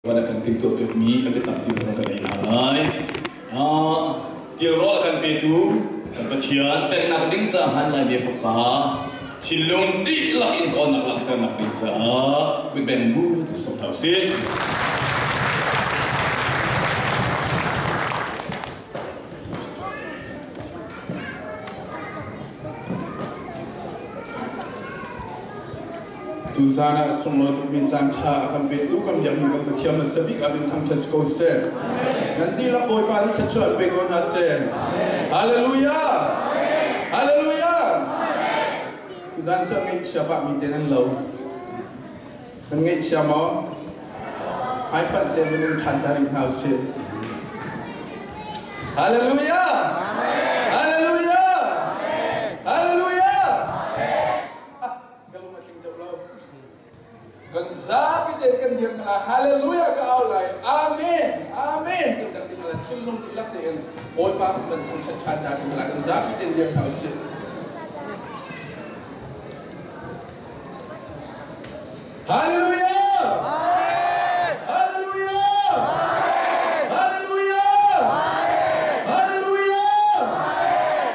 Van a kan timtuah pekmi a biatak ti a kan ei hna lai. Ah, tirrawl a kan petu kan Pathian pennak ding caah lai bia fapa thinlung dihlak in kawnnak langhternak ding caah kuipen bu sok hna usih. Atu zaan ah a sunglawi tukmi caan ṭha a kan petu kan biakmi kan Pathian an sabik ah min thangṭhat si ko seh. Nan dihlak Bawipa nih thluachuah an pe ko hna seh. Hallelujah! Hallelujah! Tuzaan cu a ngaihchia pahmi te nan lo. Nan ngaihchia maw? Hmaifanh te nan um ṭhan ta rih hna usih. Hallelujah! Hallelujah! Hallelujah! Ka lung a tling deuh lo. Kan zapi te kan dir hna lai. Hallelujah ka au lai. Amen. Amen. Kan kan ding lai. Thinlung dihlak tein Bawipa kan banthang ṭhaṭha hna ding lai. Kan zapi te dir hna usih. Hallelujah! Hallelujah! Hallelujah! Hallelujah!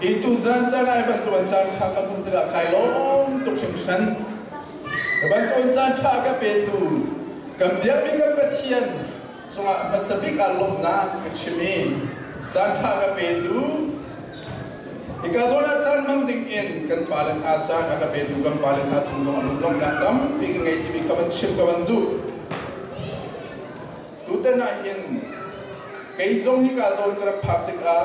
i tuzan caan ah bantuan caan ṭha ka hmuh tikah kai lawm tuk hringhran. Bantuan caan ṭha ka petu kan biakmi kan Pathian cungah hmasa bik ah lawmhnak ka chim i caan ṭha ka petu hika zawn ah caan hmang dingin kan pale hna caan a ka petu kan pale hna cung zong ah lunglawmhnak tampi ka ngei timi kha van chim ka van duh. Tutan ahhin kei zong hika zawn ka rak phak tikah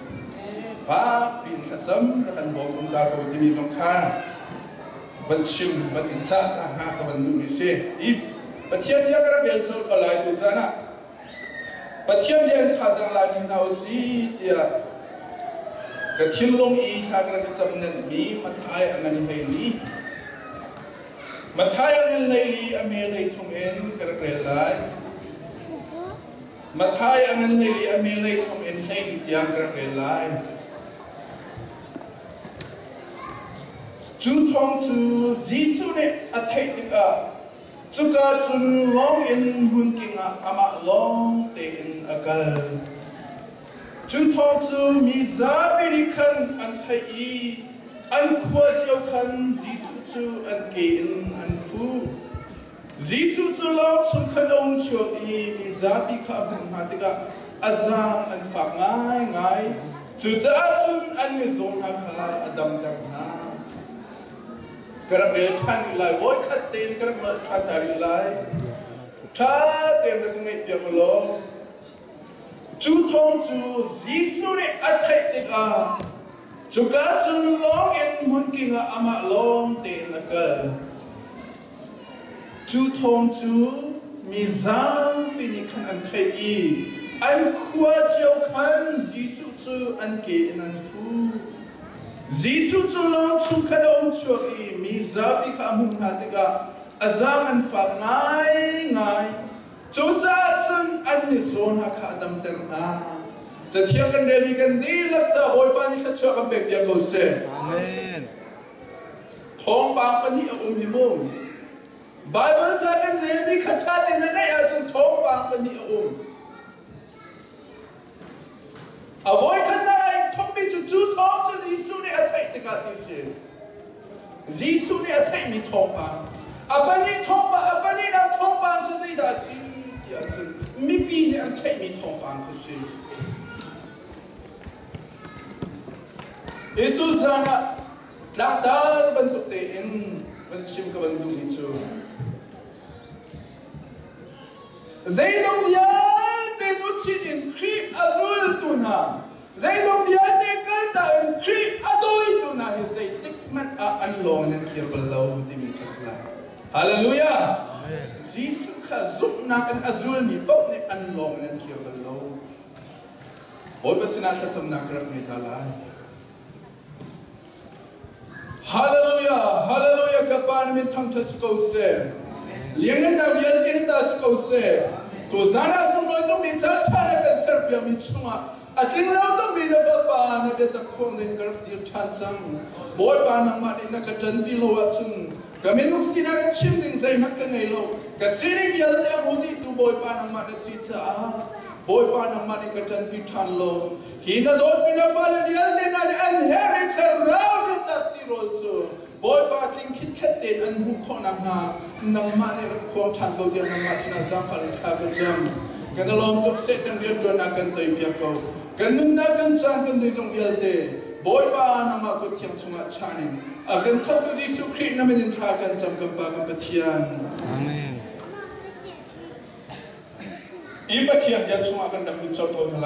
Fakpi in thlacam rak kan bawm zungzal ko timi zong kha van chim van in cah ta hna ka van duhmi si. I Pathian bia ka rak rel colh ko lai tu zan ah Pathian bia in thazaang lai mi hna u si tiah ka thinlung i thla ka rak i cam nenhmi Matthai a ngan hlei li Matthai a ngan hlei li a mel hlei thum in ka rak rel lai. Matthai a nan theih i a melei thawng in hlei dih tiang ka rak rel lai. Cu thawng cu Jesuh nih a theih tikah cuka cun lawng in hmun king ah amah lawng tein a kal. Cu thawng cu mi zapi nih khan an theih i an khua cio khan Jesuh cu an ke in an fuh. Jesuh cu lawng chung khan a um ṭhiam i mi zapi kha a hmuh hna tikah a zaang an fak ngaingai, cucaah cun an mizaw hna kha a damter hna. Ka rak rel ṭhan rih lai, voi khat tein ka rak nolh ṭhan ta rih lai. Ṭha tein rak ka ngaihpiak u law, cu thawng cu Jesuh nih a theih tikah cuka cun lawngin hmun king ah amah lawng tein a kal. Cu thawng cu mi zapi nih khan an theih i an khua cio khan Jesuh cu an ke in an fuh. Jesuh cu lawng chung khan a um chuak i mi zapi kha a hmuh hna tikah a zaang an fak ngaingai. Cucaah cun an mizaw hna kha a damter hna. Cathiang kan rel i kan dihlak caah Bawipa nih thluachuah kan pek piak ko seh. Amen. Thawngpang pahnih a um hi mu. Baibal ca kan relmi kha ṭhate na ngeih ahcun thawngpang pahnih a um. A voikhatnak ah in thawkmi cu cu thawng cu Jesuh nih a theih tikah ti a si. Jesuh nih a theihmi thawngpang. A pahnih thawngpang, a pahnihnak thawngpang cu zeidah a si ti ahcun mipi nih an theihmi thawngpang khi a si. Titu caan ah tlangtar bantuk tein van chim ka bantuk hi cu zeizong vialte luchin in Khrih a zultu hna zeizong vialte kalta in Khrih a dawitu hna hi zeitik hmanh ah an lawng in an kir bal lo timi kha si lai. Hallelujah! Jesuh kha zumhnak in a zulmi paoh nih an lawng in an kir bal lo. Bawipa sinah thlacamnak ka rak ngei ta lai. Hallelujah! Hallelujah! Ka pa nih min thangṭhat si ko seh. Lianhngannak vialte nih ta si ko seh. Tuzan ah sunglawi tungmi ca ṭha na kan serpiakmi chungah a tlinglo tungmi na fapa na biatak thawng in ka rak dir ṭhan cang. Bawipa nangmah nih na ka ṭanpi lo ahcun Ka minung sinak in chim ding zeihmanh ka ngei lo. Ka sining vialte a hmu dih tu Bawipa nangmah na si caah Bawipa nangmah nih ka ṭanpi ṭhan law hi na dawtmi na fale vialte hna nih an he an i thlarau nih tatpi rawl cu Bawipa tling khitkhet tein an hmuh khawh nakhnga nangmah nih rak phuang ṭhan ko tiah nangmah sinah zaangfah in thla ka cam. Kan i lawm tuk, Satan rianṭuannak kan toipiak ko. Kan nunnak, kan caan, kan zeizong vialte Bawipa nangmah kut thiang chungah chan in A kan thawktu Jesuh Khrih namin in thla kan cam kan Pa kan Pathian. Amen. I Pathian biak chungah kan rak lut co tawn hna